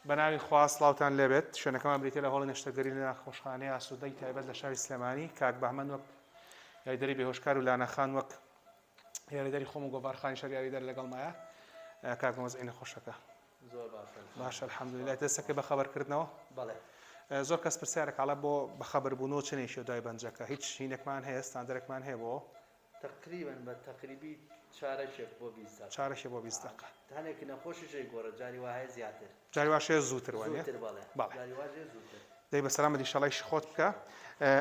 بەناوی خوا سڵاوتان لێبێت شوێنەکەمان بریتە لە هۆڵی نەشتەگەری لە ناخۆشخانەی ئاسوودەی تایبەت لە شاری سلێمانی کاک بەهمەن وەک یاریدەری بێهۆشکار و لانەخان وەک یاریدەری خۆم و گۆڤارخانی شار یاریدەر لەگەڵ مایە کاک مەزعی نەخۆشەکە زۆر باشە الحەمدلله دەستەکە بە خەبەرکردنەوە بەڵێ زۆر کەس پرسیارە کاڵە بۆ بەخەبربوون و چنێکی و دوای بەنجەکە هیچ شینێکمان هەیە ستاندەرێکمان هەیە بۆ تەقریبەن بە تەقریبی چارەکێک بۆ بیست دەقە. چارەکێک بۆ بیست دەقە. هەنێک نەخۆشیش ئەیگۆڕێت جاری وا هەیە زیاتر. جاری واش هەیە زووتر وانیە؟ زووتر بەڵێ. بەڵێ. جاری واش هەیە زووتر. دەی بەسەلامەت ئیشەڵا ئیشی خۆت بکە.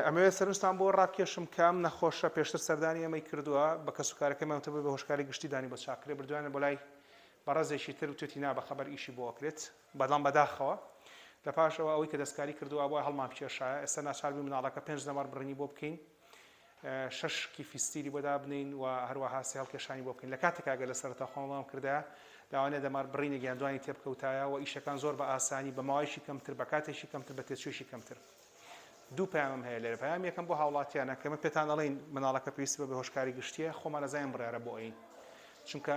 ئەمەوێت سەرنجتان بۆ ڕابکێشم کام نەخۆشە پێشتر سەردانی ئێمەی کردووە بە کەسوکارەکەمان وتبووی بە هۆشکاری گشتی دانی بۆ چاک کرێ بردویانە بۆ لای بەڕێزێکی تر وتوێتی نا بەخەبەر ئیشی بۆ ئەکرێت بەڵام بەداخەوە لە پاش ئەوە ئەوەی کە دەستکاری کردووە ئەبوایە هەڵمانبکێشایە ئێستا ناچار بووین مناڵەکە پێنج نەمەڕ بڕینی بۆ بکەین شەش کیفی ستیلی بۆ دابنێین و هەروەها سێ هەڵکێشانی بۆ بکەین لە کاتێکا ئەگەر لە سەرەتا خۆمان وام کردایە لەوانەیە دەمار بڕینێک یان دوانی تێبکەوتایە و ئیشەکان زۆر بە ئاسانی بە ماوەیەکی کەمتر بە کاتێکی کەمتر بە تێچوویەکی کەمتر دوو پامم هەیە لێرە پام یەکەم بۆ هاوڵاتیانە کە من پێتان ئەڵین مناڵەکە پێویستی بە بەهۆشکاری گشتیە خۆمان نەزانین بڕارە بۆ ئەین چونکە